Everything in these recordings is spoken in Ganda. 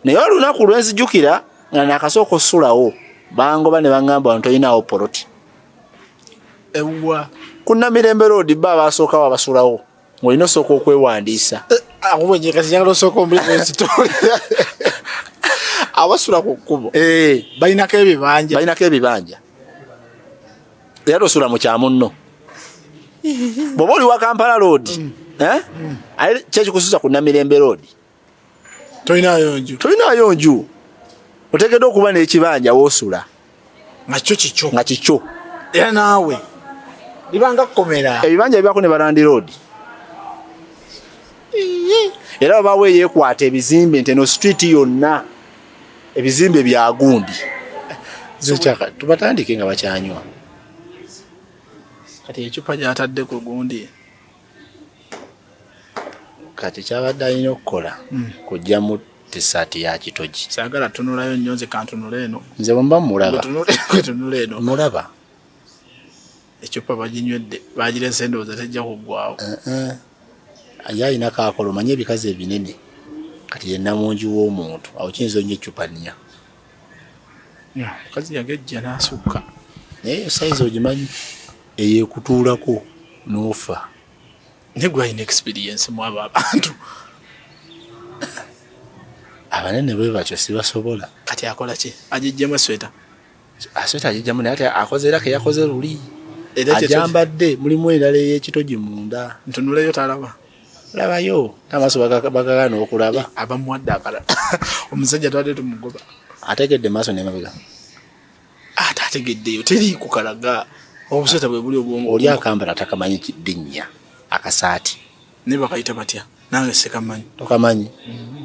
naye olunaku lwenzijukira nga nakasooka osulawo bangoba ne bangamba wano tolinawo poloti ewa kunamirembe roodi ba abasookawo abasulawo ngaolina osooka okwewandiisa eh, abasula ku kkubo eh. balinako ebibanja balinako ebibanja era tosula mu kyamunno bwoba oli wa kampala roodi mm. eh? mm. kyekikususa ku namirembe roodi tolinaayo nju tolinaayo nju oteekeddwa okuba n'ekibanja woosula nga kyo kikyo nga kikyo era naawe libanga kukomera ebibanja bibako ne barandi road era babawo eyekwata ebizimbe nti eno street yonna ebizimbe byagundi zekyaka tubatandike nga bakyanywa kati ecupa gyatadde ku gundi kati kyabadde alina okukola hmm. kujjamu tisaati ya kitogi sagala tunulayo nnyo nze kantunula eno nze bwemba mulabatunula eno mulaba ecupa baginywedde bagirese endowooza tejja kuggwawo eh, eh. ye alina kakola omanye ebikazi ebinene kati yenamungi w'omuntu awo kiyinza onnyo ecupa nnya omukazi yagejja n'asukka naye eyo sayizi ogimanyi eyo ekutuulako n'ofa naye gwalina experience mu abo abantu abanene bwe batyo sibasobola kati akola ki agijjemu esweta asweta agijjamu naye ate akoze era keyakoze luli ajambadde mulimu endala ey'ekitogi munda ntunuleyo talaba labayo n'amaaso bagagana okulaba abamuwadde akala omusajja twade tumugoba ategedde maaso nemabega ate ategeddeyo teriiku kalaga obusota bwe buli obwongo oli akambala atakamanyi kidinnya akasaati naye bakayita batya nange sekamanyi tokamanyi mm -hmm.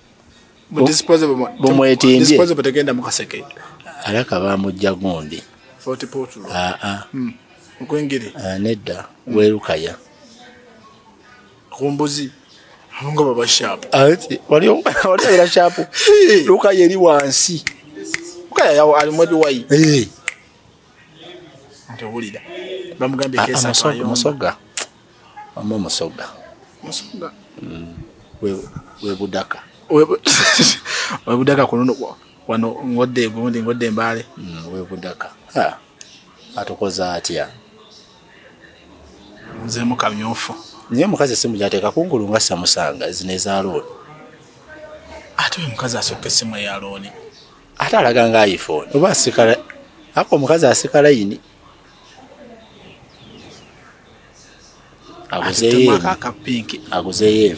bumwetimbye tegenda mukaseke alaka bamujja gundi ah, ah. hmm. okwengeri ah, nedda hmm. werukaya kumbuzi abonga baba shapu waliobera shapu lukaya eri wansi lukaya yawo alimu ebiwayi ntewulira bamugambye kesamusoga Wama musoga. Musoga. Mm. We we budaka. We we budaka kuno wano ngodde gundi ngodde mbale. Mm, we budaka. Ha. Atokoza atia. Mzee mukamyofu. Nye mukazi simu jateka kungulu ngasa musanga zineza road. Atuwe mukazi asoke simu ya loni. Ata alaga nga iPhone. Oba sikala. Ako mukazi asikala yini. aguzeyo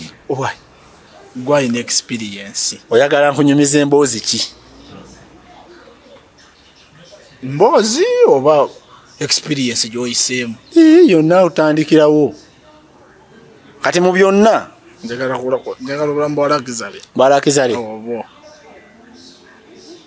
gwalina experience oyagala nkunyumiza emboozi ki mboozi oba experience gyoyiseemu yonna otandikirawo kati mu byonna njagala obulamu bwalakizale bwalakizale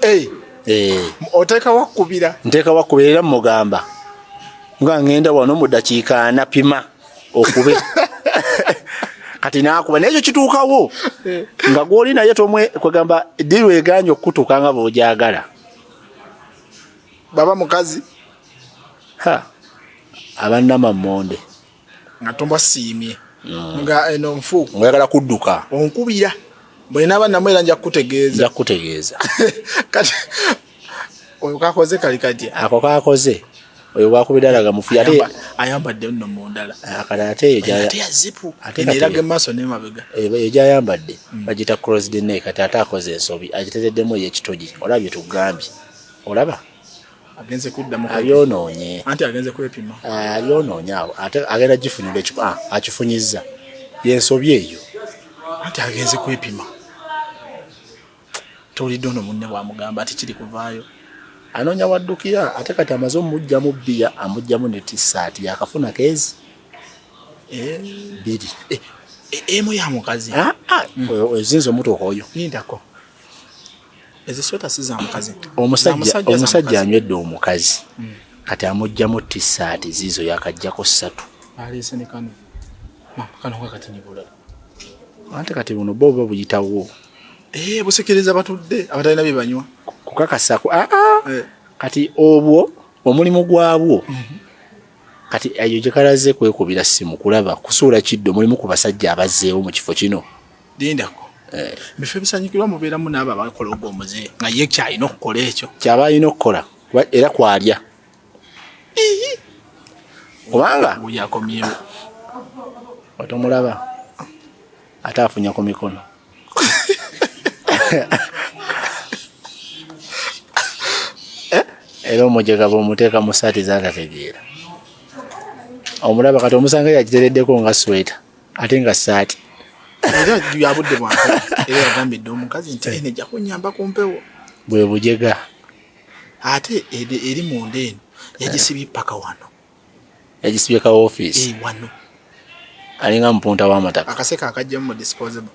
eh. eh. oteeka wakubira nteeka wakubira era mugamba nga ngenda wano mu dakiika anapima okube kati nakuba naye ekyo kituukawo eh. nga gwoli naye tomwe kwegamba diru eganye okukutuuka nga bwojagala baba mukazi ha abanama monde nga tombasiimye mm. nga eno nfu mwagala kudduka onkubira bwena abaana mwera nja kukutegeeza nja kukutegeeza kati oyo kakoze kali kati ako kakoze oyo wakubira alaga mufu ate ayambadde nno mundala ah, kati ate eyo gyazipu ate eraga emaaso nemabega eh, eyo gyayambadde mm. bagita cross dna kati ate akoze ensobi agitereddemu eyekitogi olaba byetugambye olaba agenze kuddamu abyonoonye anti agenze kwepima eh, abyonoonye awo ate agenda gifunira ekikuba ah, akifunyizza yensobi eyo anti agenze kwepima towulidde ono munne bwamugamba ati kiri kuvaayo anoonya waddukira ate kati amaze omujjamu bbiya amujjamu ne tisaati yakafuna keezi eh. biri eh, emu ya mukazi ah, ah. mm. ozinza omutuuka oyo yindako omusajja anywedde omukazi hmm. kati amugjamu tisaati ziizo yakajjako satu ante kati buno bo oba buyitawo eh, busikiriza batudde abatalina byebanywa kukakasako aa ah, ah. eh. kati obwo omulimu gwabwo mhm. kati eyo gyekalaze kwekubira simu kulaba kusuula kiddo mulimu ku basajja abazzeewo mu kifo kino lindako eh. bifo ebisanyukirwa mubeeramu naabo abakola ogwo omuze nga ye kyalina okukola ekyo kyaba alina okukola era kwalya kubanga yakomyewo otomulaba ate afunya ku mikono eh? era omujega bwomuteeka mu saati zatategeera omulaba kati omusanga yakitereddeko nga sweta ate nga saati era yabudde bwa era yagambye dda omukazi nti eno ejja kunyamba ku mpewo bwe bujega ate eri munda eno yagisibye paka wano yagisibye ka ofiisi eh, wano alinga mupunta w'amataka akaseka akajjamu mu disposable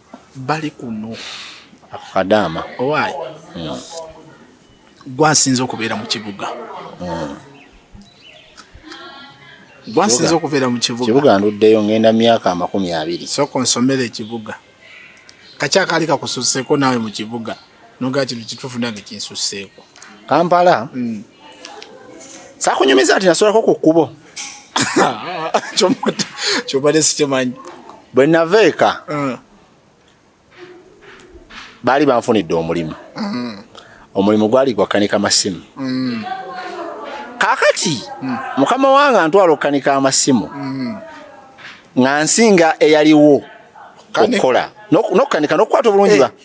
bali kuno akadaama owaayi hmm. gwasinze okubeera mu kibuga hmm. gwasinze okubeera mu kibuga kibuga nduddeyo ngenda myaka amakumi abiri soko nsomera ekibuga kakyakaali kakususeko naawe mu kibuga noga kino kituufu nange kinsusseeko kampala mm. sakunyumiza nti nasolako ku kkubo kyobadde sikimanyi bwe nava eka mm. baali banfunidde omulimu mm. omulimu gwali gwakanika masimu mm. kakati mm. mukama wange antwala okukanika amasimu mm. nga nsinga eyaliwo okukola nokukanika nokukwata obulungi ba eh.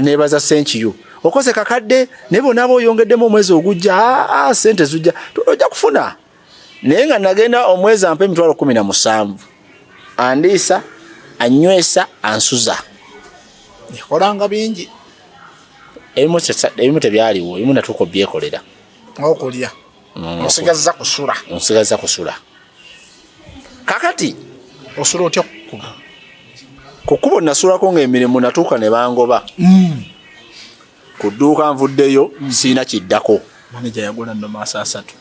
nebaza senkiyo okoze kakadde naye bonaaba oyongeddemu omwezi ogujja aa sente zujja ojja kufuna naye nga nagenda omwezi ampa emitwalo kumi na musanvu andiisa anywesa ansuza ekolanga bingi ebimu tebyaliwo ebimu natuuka obyekolera okulya nsigazza kusula nsigazza kusula kakati osula otya kukubo kukubo nasulako ngaemirimu natuuka ne bangoba mm. ku dduuka nvuddeyo mm. siina kiddako maneja yagula no maaso asatu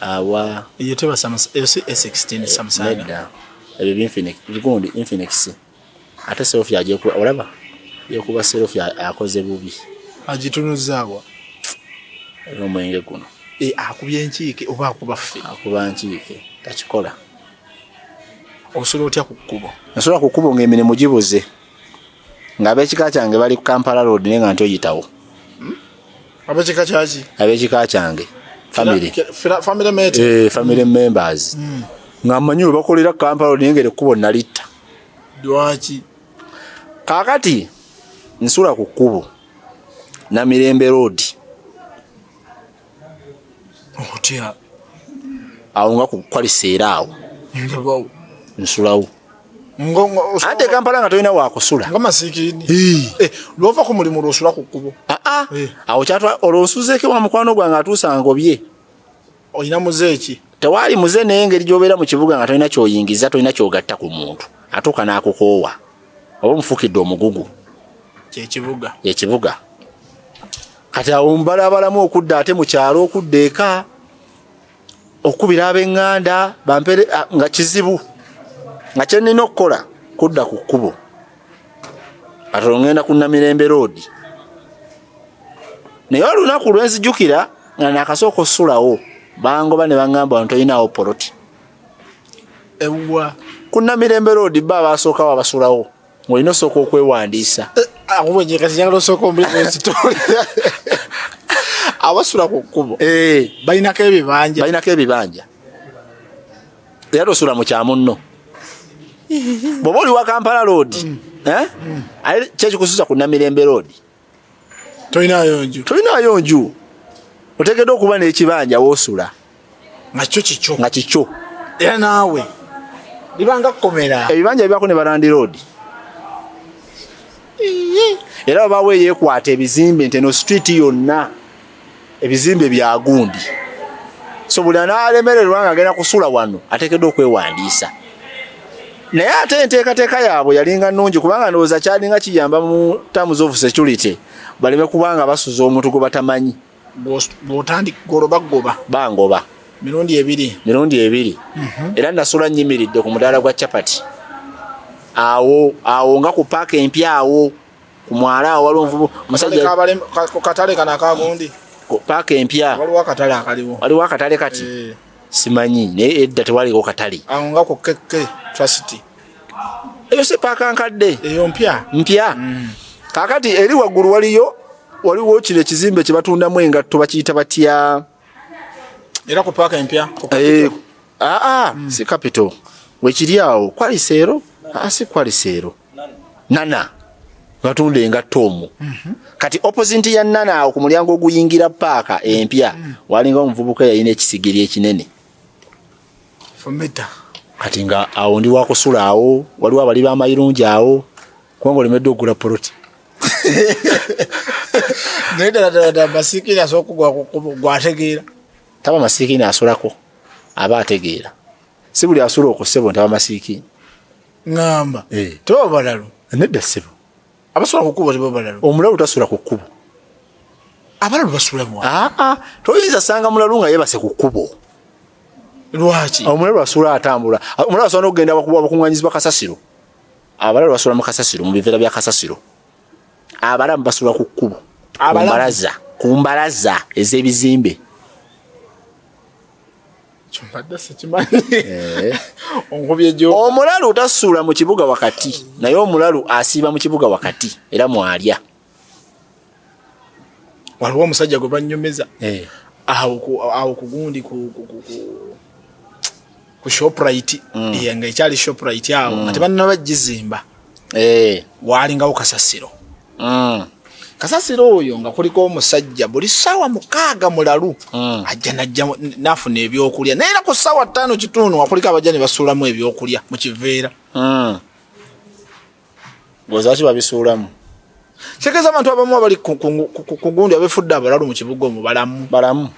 awa eyo tebasa eyo si a16 samusana ebyo binfinix bigundi infinix ate selfie ajekuba olaba yekuba selfie akoze bubi agitunuzaawa omwenge guno e, akubye enkiike oba akuba ffe akuba nkiike takikola osobola otya ku kkubo nsobola ku kkubo ng'emirimu gibuze ng'abekika kyange bali ku kampala road naye nga nti oyitawo abekika kyaki abekika kyange family family mate eh family members mm. nga manyu bakolera kampala nengere kubo nalita dwachi kakati nsula ku kubo na mirembe road okutya awo nga ku kwali seera awo nsulawo ante kampala nga tolina wakusula nga masikini eh, lwova ku mulimu lwosula ku kkubo ah, ah. Eh. awo kyatwa olwonsuzeeko wa mukwano gwange atuusa ngobye olina muze eki tewaali muze naye engeri gyobeera mu kibuga nga tolina kyoyingiza tolina kyogatta ku muntu atuuka n'akukoowa oba omufukidde omugugu kyekibuga ekibuga kati awo mbalabalamu okudda ate mu kyalo okudda eka okubira ab'eŋŋanda bampere ah, nga kizibu nga kye nnina okukola kudda ku kkubo atolo ŋŋenda ku namirembe roodi naye olunaku lwe nzijukira nga naakasooka osulawo bangoba ne baŋŋamba wano tolinawo poloti ewwa ku namirembe roodi ba baasookawo abasulawo olina osooka okwewandiisa eh, akuwenyekazinyagala ah, osooka omulimuezitoli abasula ku kkubo eh. balinako ebibanja balinako ebibanja era tosula mu kyamunno bwoba oli wa kampala loodi mm. eh? mm. kyekikususa ku namirembe loodi tolinaayo nju tolinaayo nju otegedde okuba n'ekibanja wosula nga kyo kikyo nga kikyo era naawe libanga kukomera ebibanja bibaako ne barandi roodi era babawo eyekwata ebizimbe nti eno street yonna ebizimbe bya gundi so buli anaalemererwa nga agenda kusula wano ateekeddwa okwewandiisa naye ate enteekateeka yaabwe yalinga nnungi kubanga ndowooza kyalinga kiyamba mu terms of security baleme kubanga basuza omuntu gwe batamanyi bwotandika goloba goba bangoba mirundi ebiri mirundi ebiri mhm. era nasula nyimiridde ku mudaala gwa chapati awo awo nga ku paaka empya awo ku mwala awo waliwo nvubu musajja ku katale kana akagundi paaka empya waliwo akatale akaliwo waliwo akatale kati eh. simanyi naye edda tewaliwo katale awo nga ku keke trust eyo si paaka nkadde eyo mpya mpya mm. kakati eri waggulu waliyo waliwo kino ekizimbe kye batundamu engatto bakiyita batya era ku paaka empya aa eh, ah, ah, mm. si capital wekiri awo kwaliseero asi ah, kwaliseero nana batunda engatto omu mhm. kati opposite ya nana awo ku mulyango oguyingira paaka empya mhm. walinga omuvubuka yalina ekisigiri ekinene kati nga awo ndi wakusula awo waliwo abali bamayirungi awo kubanga olemedde okugula poloti naye ddaladala masikiini asobola okugwategeera taba masikiini asulako aba ategeera si buli asula okusebo ntaba masikiini ngamba eh. tebaba balalu nedda ssebo abasula ku kkubo tebaba balalu omulalu tasula ku kkubo abalalu basula mu aa ah, ah. toyinza sanga mulalu nga yebase ku kkubo lwaki omulalu asula atambula omulalu asobola n'okugenda abakuŋŋanyizibwa kasasiro abalalu basula mu kasasiro mu biveera bya kasasiro abalamu basula ku kkubo ku mbalaza ez'ebizimbe Eh. omulalu tasuula mu kibuga wakati naye omulalu asiiba mu kibuga wakati era mwalya waliwo omusajja gwe banyumiza eh. awo kugundi ku shoprite mm. eh, nga ekyali shoprite awo nga mm. tebanaba gizimba waalingawo kasasiro mm. kasasira oyo nga kuliko omusajja buli saawa mukaaga mulalu mm. ajja najja nafuna ebyokulya naye era ku saawa ttaano kitundu nga kuliko abajja ne basuulamu ebyokulya mu kiveera mm. gozaki babisuulamu kitegeeza abantu abamu abali ku gundi abefudde abalalu mu kibuga omubalamu balamu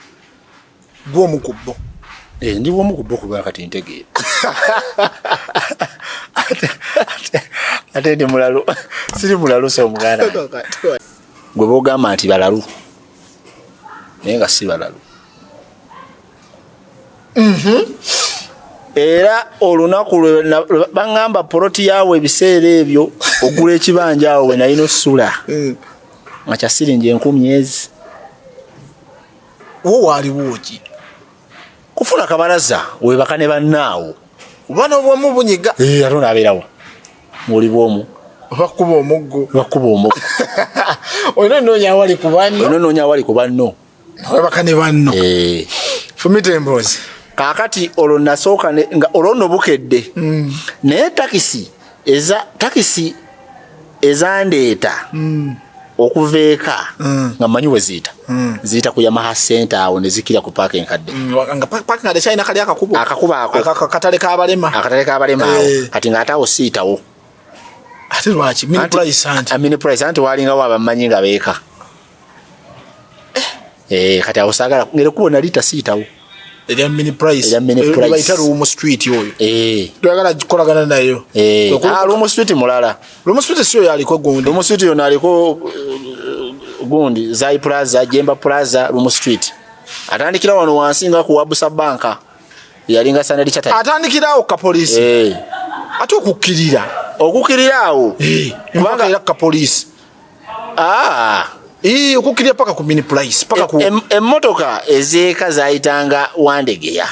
gwe omu ku bo eh, ndi omu ku bo kuba kati ntegeera ate ndi mulalu siri mulalu so omuganda gwe bogamba nti balalu naye nga si balalu mhm. era olunaku lwebaŋamba poloti yaawe ebiseera ebyo ogula ekibanja awo wenalina osula mm. nga kyasiringi enkumi ezi wo waaliwo ki kufuna kabalaza webaka ne bannaawo oba nobwomu bunyiga eh, ate onaabeerawo muli bwomu bakuba omuggo bakuba omuggo olina onoonya awali ku banno olina onoonya awali ku banno webaka ne banno eh. fumita emboozi kaakati olwo nasooka olwo no bukedde mm. naye takisi eza takisi ezandeeta mm. okuva eka mm. nga manyi we ziyita mm. ziyita ku yamaha center awo ne zikira ku paaka enkadde akakubo ako katale kabalema akatale kabalema awo eh. kati nga ate awo siyitawo ate lwaki mini price anti mini price anti walingawo abamanyi nga beeka eh, eh kati awo sagala ngere kubo nali tasitawo erya mini price erya mini price bayita rumu street oyo eh twagala kolagana nayo eh ah rumu street mulala rumu street sio yaliko gundi rumu street yo naliko eh, gundi zai plaza jemba plaza rumu street atandikira wano wansi nga ku wabusa banka yalinga sanali chata atandikira awo ka police eh ate okukirira okukirira awo eh kubanga yaka police Ah, ii okukirya paka ku mini price paka ku emotoka e, e ezeeka zayitanga wandegeya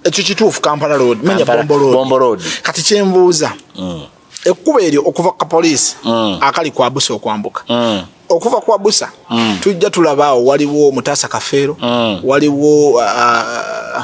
ekyo kituufu kampala road menya bombo road bombo road kati kyembuuza mm. ekkuba eryo okuva ku kapoliisi mm. akali kwa busa okwambuka mm. okuva kwa busa mm. tujja tulabaawo waliwo mutaasa kafeero mm. waliwo uh,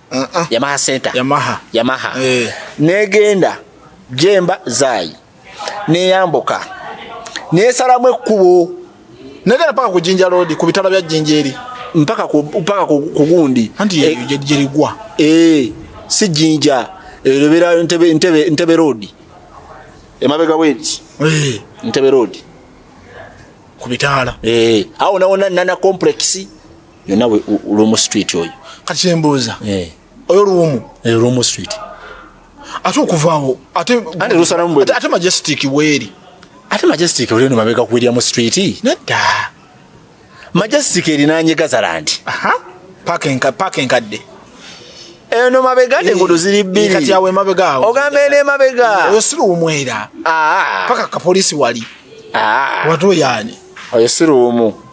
uh -uh. yamaha center yamaha yamaha hey. Eh. negenda jemba zayi neyambuka nesalamu ekkubo negenda paka kujinja lodi ku bitala bya jinja eri mpaka ku, mpaka ku, ku gundi anti e, eh. jerigwa e, eh, si jinja elobera e, ntebe, ntebe, ntebe road emabega weti hey. ntebe road ku bitala e, awo nawona nana complex yonna lumu street oyo kati kyembuuza eh. oyo lumu eh, lumu street ate okuvaawo ate majestic weeri ate majestic olino mabega ku william street nedda majestic erinanye gazalandi paaka enkadde eno mabega nengudo eh, ziri bbiri ogamba eno emabega oyo siruwumwera ah. paka kapolisi wali ah. watu yani oyo siruwumu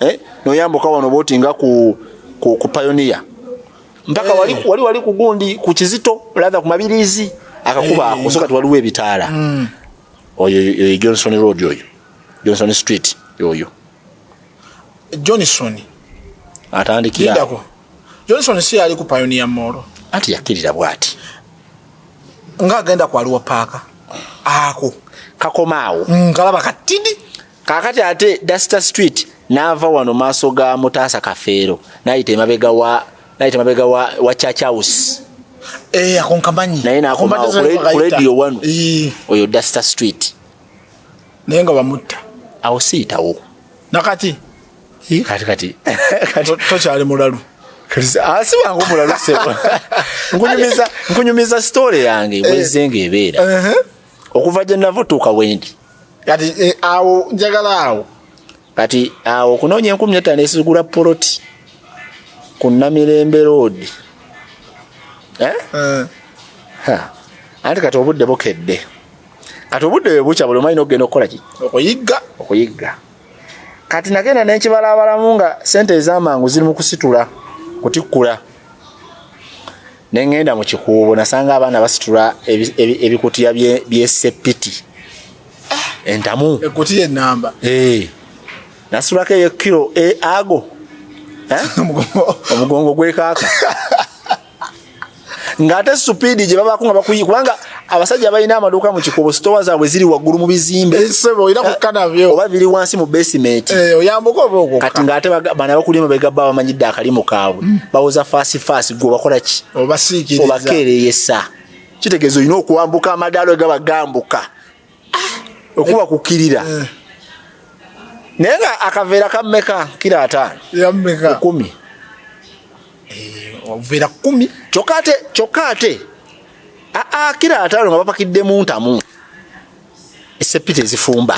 eh noyambuka wano boti nga ku ku, ku pioneer mpaka wali eh. wali wali kugundi ku kizito ladha ku mabirizi akakuba eh. kusoka twaliwe ebitala mm. oyo oyo Johnson road oyo Johnson street oyo Johnson atandikia Lidako. Johnson si ali ku pioneer mall ati yakirira bwati nga agenda kwa luwa paka ako kakomaawo ngalaba mm, katidi kakati ate duster street naava wano maaso ga mutaasa kafeero nayita emabega wa nayita emabega wa, wa church house eh, akonkamanyi naye nakomawo ku radio wano eh. oyo duster street naye nga bamutta awo siyitawo nakati eh, kati kati tokyali mulalu asi ah, wangu mulalu sebo nkunyumiza nkunyumiza story yange bwezenga ebeera uh-huh. okuva gye nava otuuka wendi kati eh, awo njagala awo kati awo okunoonya enkumi etaano esigula poloti ku namirembe roodi eh? eh. anti kati obudde bukedde kati obudde bwe bukya buli omanyina okugenda okukola ki okuyigga okuyigga kati nagenda nenkibalaabalamu nga sente ezamangu ziri mu kusitula kutikkula ne ŋŋenda mu kikuubo nasanga abaana basitula ebikutiya byesepiti ah! entamu ekutiya enamba eh. nasitulako eyo kiro eh, ago eh? omugongo gwekaaka ng'ate supiidi gye babaako nga bakuyi kubanga abasajja balina amaduuka mu kikubo sitowa zaabwe ziri waggulu mu bizimbe eh, eh, oba biri wansi mu besimenti eh, kati ngaate bana bakulima begabba bamanyidde akalimu kaabwe hmm. bawoza faasi faasi gwe obakola ki obakeereyesa kitegeeza olina okuwambuka amadaalo egaba gambuka okuba kukirira eh. naye nga akaveera kammeka kira ataano yammeka kumi obuveera eh, kumi kyokka ate kyokka ate aa kira ataano nga bapakidde mu ntamu esepita ezifumba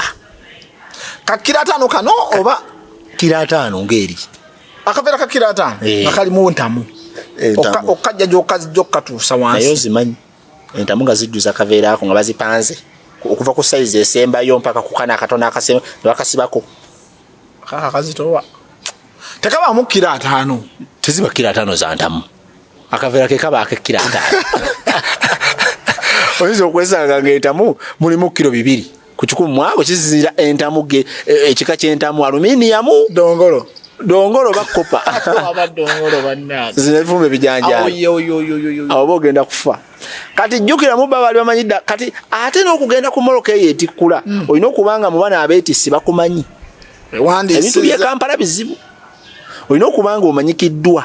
kakira ataano kano oba kira ataano ngaeri akaveera kakira ataano eh. nga kalimu ntamu okukajja gyokazijja okukatuusa wansi naye ozimanyi entamu nga zijjuza kaveera ako nga bazipanze okuva ku sayizi esembayo mpaka kukana akatono akasema nebakasibako kaka kazitowa tekabaamu kira ataano teziba kira ataano za ntamu akaveera ke kaba akekira ataano oyinza okwesanga ngaentamu mulimu kiro bibiri ku kikumi mwabo kisinzira entamu ge e, ekika ky'entamu aluminiyamu dongolo dongolo bakopa zinevumba ebijanjaabo bogenda kufa kati jjukira mu baba bali bamanyi dda kati ate n'okugenda ku moloka eyo etikkula hmm. olina okuba nga mu bana abeetissi bakumanyi ebintu by'ekampala bizibu olina okuba nga omanyikiddwa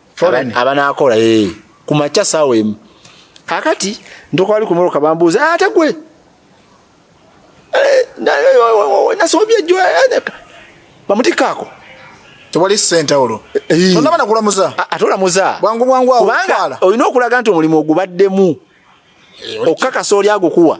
abanaakola ee eh, ku makya saawa emu kakati ntokwali ku moloka bambuuza ah, ate gwe eh, nasobye ejjo eh, bamutikkaako tewali sente olwo tondaba nakulamuza ate olamuza bwangu bwangu awo kubanga olina okulaga nti omulimu ogubaddemu okukakasa oli agukuwa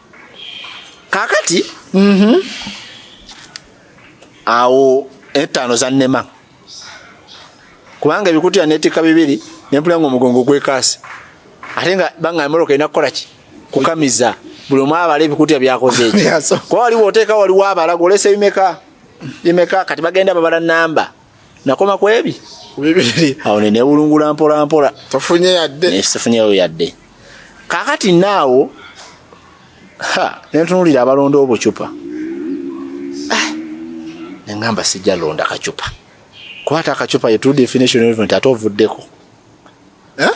kakati mm -hmm. awo etaano zannema kubanga ebikutiya netikka bibiri nempula nga omugongo gwekaasi ate nga banga emoroka erina kukolaki kukamiza buli omu abala ebikutiya byakoze eki kuba waliwo oteeka waliwo abala golesa ebimeka bimeka kati bagenda babala namba nakoma ku ebi ku bibiri awo ne newulungula mpola mpola tofunye yadde ne sifunyeyo yadde kakati naawo ha nentunulira abalonda obucupa ah, nengamba sijja londa kacupa kwata akacupa yetudefinition event ate ovuddeko eh?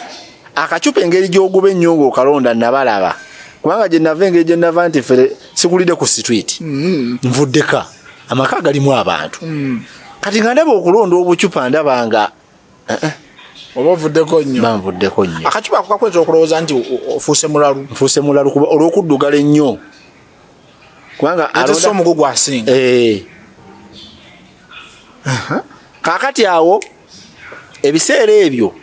akacupa engeri gyoguba ennyo ngaokalonda nabalaba kubanga gyenava engeri gyenava nti fere sikulidde ku street mm-hmm. nvuddeka amaka galimu abantu mm. kati nga ndaba okulonda obucupa ndaba nga eh, eh. oba ovuddeko nnyo banvuddeko nnyo akacupa kukakweza okulowooza nti ofuuse mulalu nfuuse mulalu kuba olw'okuddugala ennyo kubanga alonda omugo gwasinga eh. kakati awo ebiseera ebyo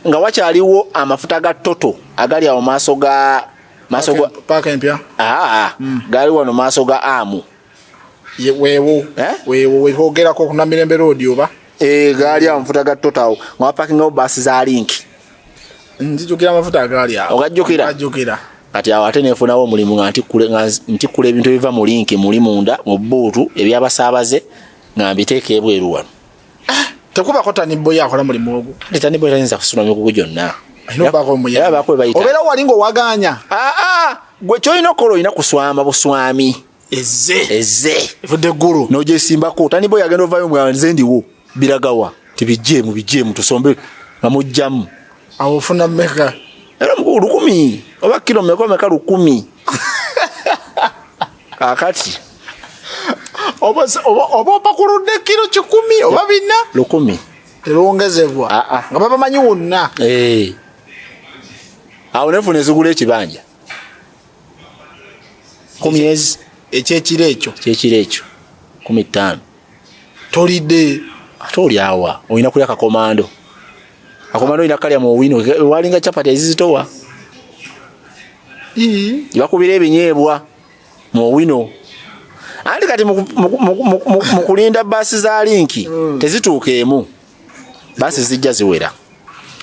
nga wakyaliwo amafuta ga toto agali awo maaso ga maaso ga paaka empya aa hmm. gali wano maaso ga amu weewo eh? weewo wehogerako kunamirembe roodi oba eh, gaali awo mafuta ga toto awo nga wapakingawo baasi za linki nzijukira amafuta agaali awo ogajjukira ajjukira kati awo ate nefunawo omulimu nga ntikkula ebintu ebiva mu linki muli munda mu buutu ebyabasaabaze nga mbiteeka ebweru wano ah, tekubako taniboyo akola mulimu ogwo kati taniboyo tayinza kusula mikugu gyonna obeera wali ngaowaganya ah, ah, gwe kyolina okukola olina kuswama buswami eze eze evudde guru no je simba ko tani boy agenda ovayo mwa nze ndi wo biragawa tibije mu bije mu tusombe amujjam awo funa meka era mu lukumi oba kilo meko meka lukumi akati oba oba oba pakurude kilo chikumi oba bina lukumi telongezebwa ah, ah. nga baba manyi wonna eh awo nefune zigule ekibanja ku myezi ekyekiro ekyo kyekiro ekyo kumi ttaano tolidde ate oli awa olina kulya kakomando kakomando olina kalya mu owino walinga capati ezizitowa bakubira ebinyeebwa mu owino anti kati mukulinda baasi za linki hmm. tezituuka emu basi zijja ziwera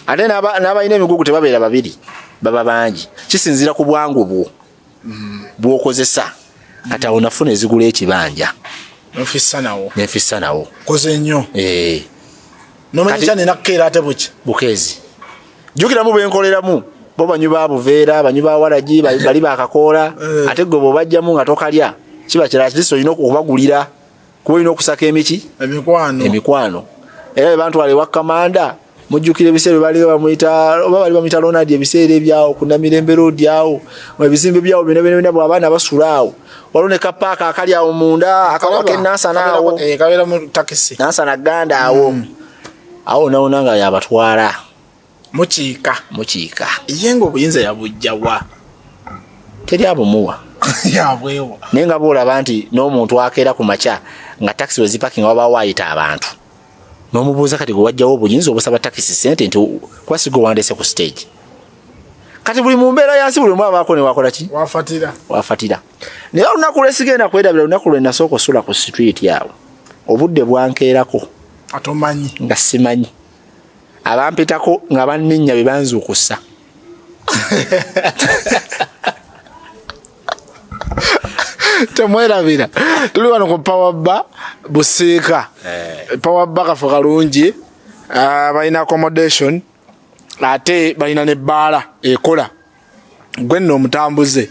ate n'abalina emigugu tebabeera babiri baba bangi kisinziira ku bwangu bwo bwokozesa kati awo nafuna ezigula ekibanja nfissa nawo nfissa nawo koze nnyo eh. nomanyica nenakukeera ate buki bukeezi jukiramu bwenkoleramu bo banyu ba buveera banyu ba waragi bali bakakoola eh. ate gwe bwobajjamu nga tokalya kiba kirala kiriso olina okubagulira kuba olina okusaka emiki emikwano era bebantwala ewa kamanda mujjukira ebiseera bali bamuyita oba bali bamuyita lonadi ebiseera ebyawo kunamirembe roodi awo ebizimbe byawo bino bino bina bwabaana basula awo waliwo ne kapaaka akali awo munda akawa kenansana awo eh, nansana ganda awo mm. awo nawona nga yabatwala mukiika mukiika ye nga obuyinza yabujja wa teri abumuwa yabwewa naye nga boolaba nti n'omuntu akeera ku makya nga takisi wezipakinga wabaawo ayita abantu n'omubuuza kati gwe wajjawo obuyinza obusaba takisi sente nti kuba sigo wandese ku stage kati buli mu mbeera yansi buli omu abaako newakola ki wafatira wafatira naye olunaku lwesigenda kwerabira olunaku lwe nasooka osula ku situiti awo obudde bwankeerako atomanyi nga simanyi abampitako nga banninya be banzuukusa temwerabira tuli wano ku pawabba busiika eh. pawabba kafo kalungi ah, balina accommodation ate balina ne bbaala ekola gwe nno omutambuze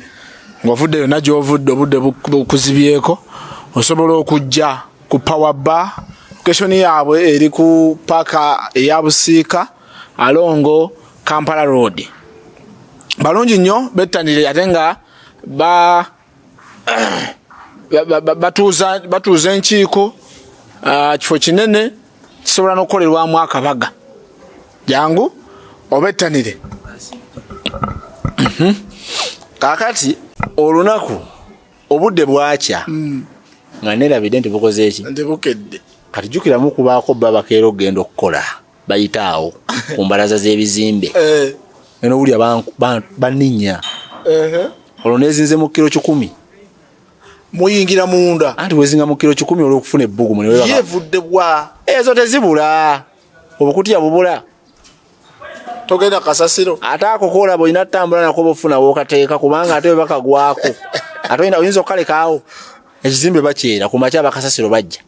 ng'ovudde yonna gy'ovudde obudde bukuzibyeko osobola okujja ku power bar location yaabwe eri ku paaka eya busiika alongo kampala road balungi nnyo bettanire ate nga ba batuuza batuuza enkiiko ah, kifo kinene kisobola nokukolerwamu akabaga jangu obettanire mhm. kakati olunaku obudde bwakya mm. nga nerabidde nti bukoze eki kati jukiramu kubaako babakeera okugenda okukola bayita awo ku mbalaza z'ebizimbe eh. nowulira baninya olwo nezinze mu kiro kikumi muyingira munda anti wezinga mu kiro kikumi olwokufuna ebbugumu yevudde bwa ezo tezibula obukutya bubula togenda kasasiro ate ako koolaba olina atambula nako bofuna wokateeka kubanga ate webakagwako ate oyinza okukalekaawo ekizimbe bakyera ku makya bakasasiro bajja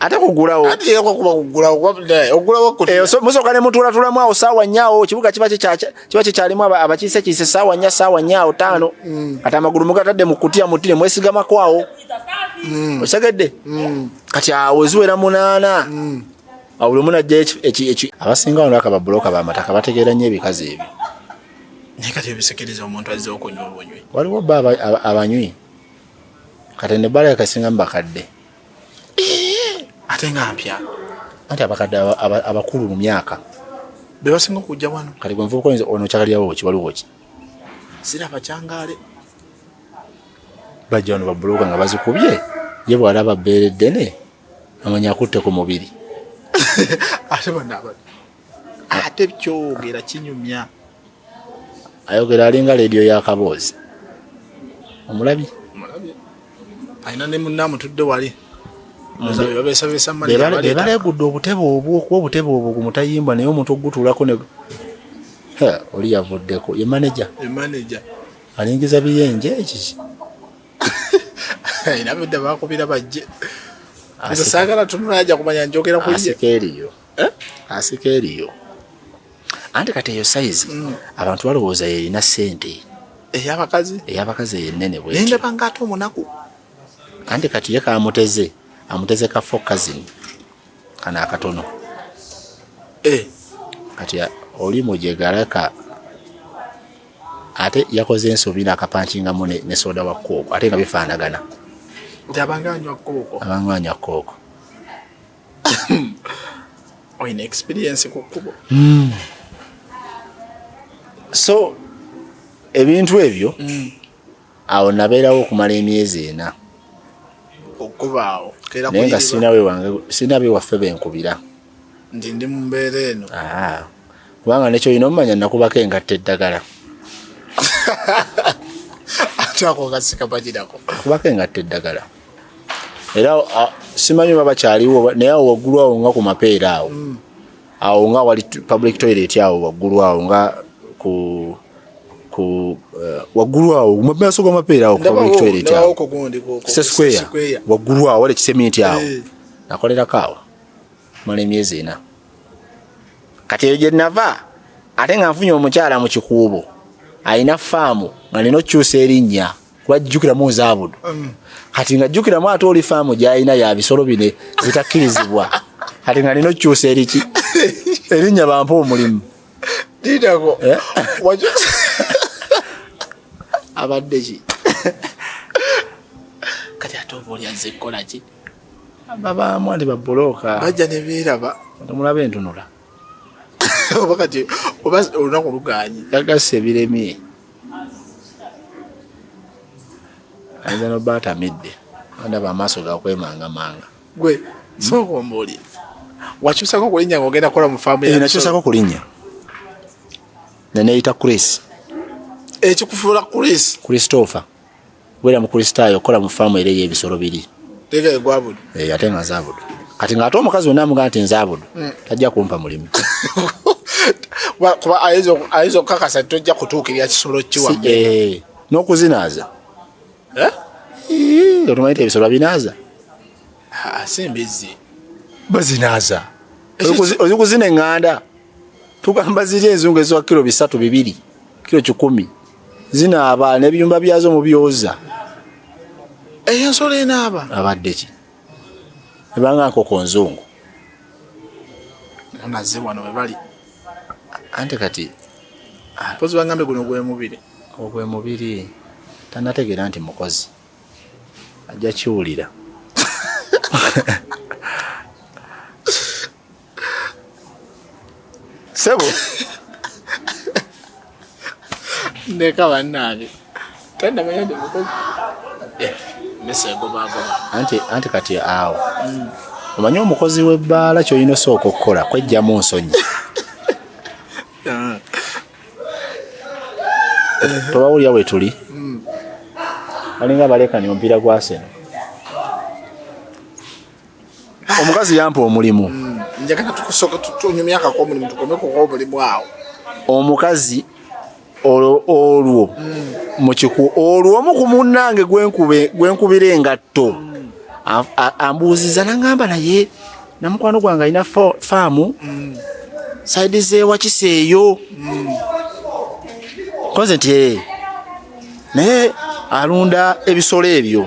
ate kugulawo eh, musoka nemutulatulamu awo saawa nyaawo kibuga kiba kyekyalimu abakiise kiise saawa nya saawa nyaawo taano mm. kati amagulu mugatadde mukutya muti nemwesigamako awo mm. osegedde mm. kati awo ziwera munaana awo buli munajja abasinga wano akaba buloka bamataka bategeera nyo ebikazi ebyo naye kati ebisekereza omuntu azze okunywa obunywi waliwo bba abanywi kati ne bala yakasinga mubakadde ate nga mpya anti abakadde abakulu mu myaka bebasinga okujja wano kati gwe nvubuka oyinza ono kyakalyawo ki waliwo ki siraba kyangaale bajja wano babuloga nga bazikubye ye bwalaba bbeere ddene amanya akutte ku mubiri ate banaaba ate kyogera kinyumya ayogera alinga leediyo yakaboozi omulabi alina ne munna amutudde wali bebalegudde obutebe obwo okuba obutebe obwo gumutayimbwa naye omuntu okugutuulako ne oli yavuddeko ye maneja alingiza biyenje ekiki era bedda bakubira bajje saagala tunula aja kumanya njogera kuye asika eriyo eh? asika eriyo anti kati eyo sayizi mm. abantu balowooza yerina sente eyabakazi eyabakazi eyenene bwendabanga ate omunaku anti kati ye kamuteze amuteze ka fo kazini kana akatono eh. kati oli mujegaraka ate yakoze ensobi nakapankingamu ne soda wa kooko ate nga bifaanagana abanga anywa kooko olina experience ku kkubo mm. so ebintu ebyo mm. awo nabeerawo okumala emyezi ena okubaawo naye nga sirina bewaffe benkubira nti ndi mu mbeera eno ah. kubanga nekyo olina omumanya nakubako engatta eddagala ate ako kasika bagirako nakubako engatta eddagala era simanyi oba bakyaliwo naye awo waggulu awo nga ku mapeera awo mm. awo nga wali public toilet awo waggulu awo nga ku ku eh, waggulu awo mu maaso g'amapeera awo ku public toilet awo se square waggulu awo wali ekiseminti awo eh. nakolerako awo mala emyezi ena kati eyo gye nava ate nga nfunye omukyala mu kikuubo alina faamu nga nina okukyusa erinnya kuba jjukiramu nzaabudu mm. kati nga jjukiramu ate oli faamu gyalina ya bisolo bine bitakkirizibwa kati nga nina okyusa eriki erinnya bampa omulimu eh? abadde ki kati ate oba oli azze kukola ki ababaamu andi babulooka bajja nebeeraba omulaba entunula oba kati oba olunaku luganye yagasa ebiremye ayinza noba atamidde andaba amaaso gakwemangamanga gwe sokombaoli wakyusako okulinya nga ogenda kukola mufamu eh, nakyusako okulinya neneyita chris ekikufuula chris christopher Kubeera Mukristaayo, okukola mu faamu era ey'ebisolo biri eh, ate nga nzabudu kati ng'ate omukazi wena amugaa nti nzabudu hmm. tajja kumpa mulimu kuba ayinza okukakasa nti tojja kutuukirira kisolo kiwa eh, n'okuzinaaza eh? otumanyi ti ebisolo babinaaza ah, si mbizzi bazinaaza ozikuzina eŋŋanda tugamba ziri enzungu eziwa kiro bisatu bibiri kiro kikumi zinaaba n'ebiyumba byazo mubyoza eyo ensolo enaaba abadde ki ebanga nkoko nzungu onaze wano webali ante kati ah, mpozi bangambe guno gwemubiri ogwemubiri tanategeera nti mukozi ajja kiwulira sebo ndeka bannange tandamanya nti mukozi eh, mesa egobagoba anti anti kati awo mm. omanyi omukozi w'ebbaala kyolina osooka okukola kwejjamu nsonyi ah. tobawulira we tuli mm. balinga balekani omupiira gwaseno omukazi yampa omulimu mm, njagala tukusoka tunyumyaka ko omulimu tukomeko ko omulimu awo omukazi olwo mm. mukiku olwo omu ku munnange gwenkubira engatto mm. ambuuziza nangamba naye namukwano gwange alina faamu saidi zewakiseeyo koze nti naye alunda ebisolo ebyo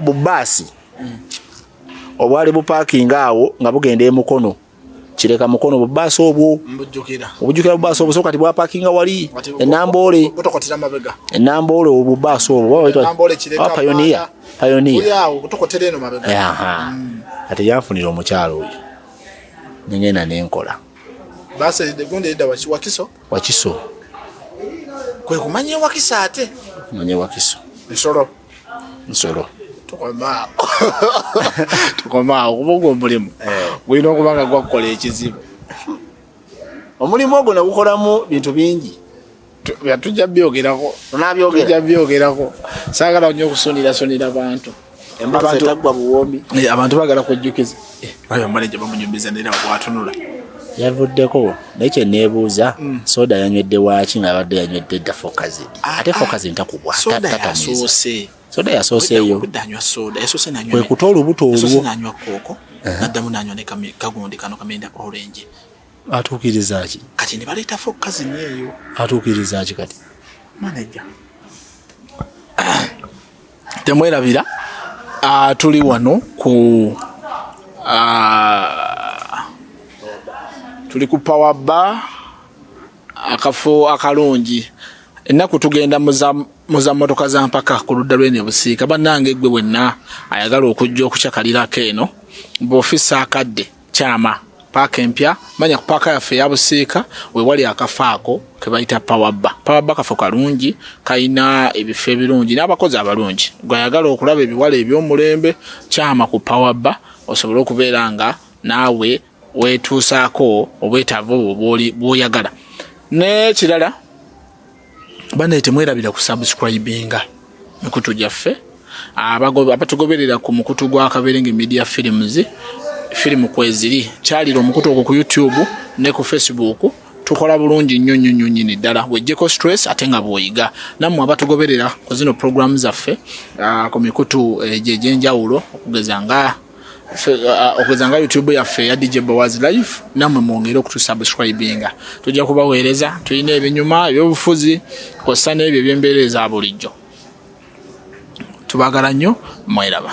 bubaasi obwali bupaakinga awo nga bugenda emukono kireka mukono bubaasi obwo obujukira bubaasi obwo so kati bwapakinga wali enamboole enamboole obubaasi obwo payoniya payoniya mm. kati yanfunira omukyalo oyo nengenda nenkola Wakiso. Kwe kumanya wakisa ate. Manya wakiso. Nsolo. Nsolo. Tukomao. Tukomao kuba ogwo omulimu. Eh. Gulina okuba nga gwakukola ekizibu. Omulimu ogwo nagukolamu bintu bingi. Tujja byogerako. Tunabyogera. Tujja byogerako. Saagala nnyo okusunira sunira bantu. Eh, abantu bagala kujjukiza eh, ayo maneja bamunyumiza nera watunula yavuddeko naye kyeneebuuza mm. soda yanywedde waaki ngaabadde yanywedde dda fokazidi ah, ate ah. fokazidi takubwa soda yasooseeyo kwekuta olubuto olwo naddamu nanywa ne kagundi kano kamenda orange atuukiriza ki kati ne baleeta fokazini eyo atuukiriza ki kati maneja temwerabira uh, tuli wano ku uh, tuli ku power bar akafo akalungi ennaku tugenda muza motoka za mpaka ku ludda lwene busiika bannange gwe wenna ayagala okujja okukyakalirako eno bwofisa akadde kyama paaka empya manya ku paaka yaffe eya busiika wewali akafa ako ke bayita pawabba pawabba kafo kalungi kalina ebifo ebirungi n'abakozi abalungi gwayagala okulaba ebiwala eby'omulembe kyama ku pawabba osobole okubeera nga naawe weetuusaako obwetaavu obwo bw'oyagala n'ekirala banaye temwerabira ku subscribinga mikutu gyaffe abatugoberera ku mukutu gwa kaberenge media films firimu kweziri kyalira omukutu ogwo ku youtube ne ku facebook tukola bulungi nnyo nnyo nnyo nyini ddala wejjeko stress ate nga bwoyiga nammwe abatugoberera ku zino programu zaffe ah, ku mikutu eh, gyegyenjawulo okugeza nga uh, okugeza nga youtube yaffe ya dj bowazi live namwe mwongere okutusubscribinga tujja kubaweereza tulina ebinyuma ebyobufuzi kosa n'ebyo ebyembeera eza bulijjo tubagala nnyo mweraba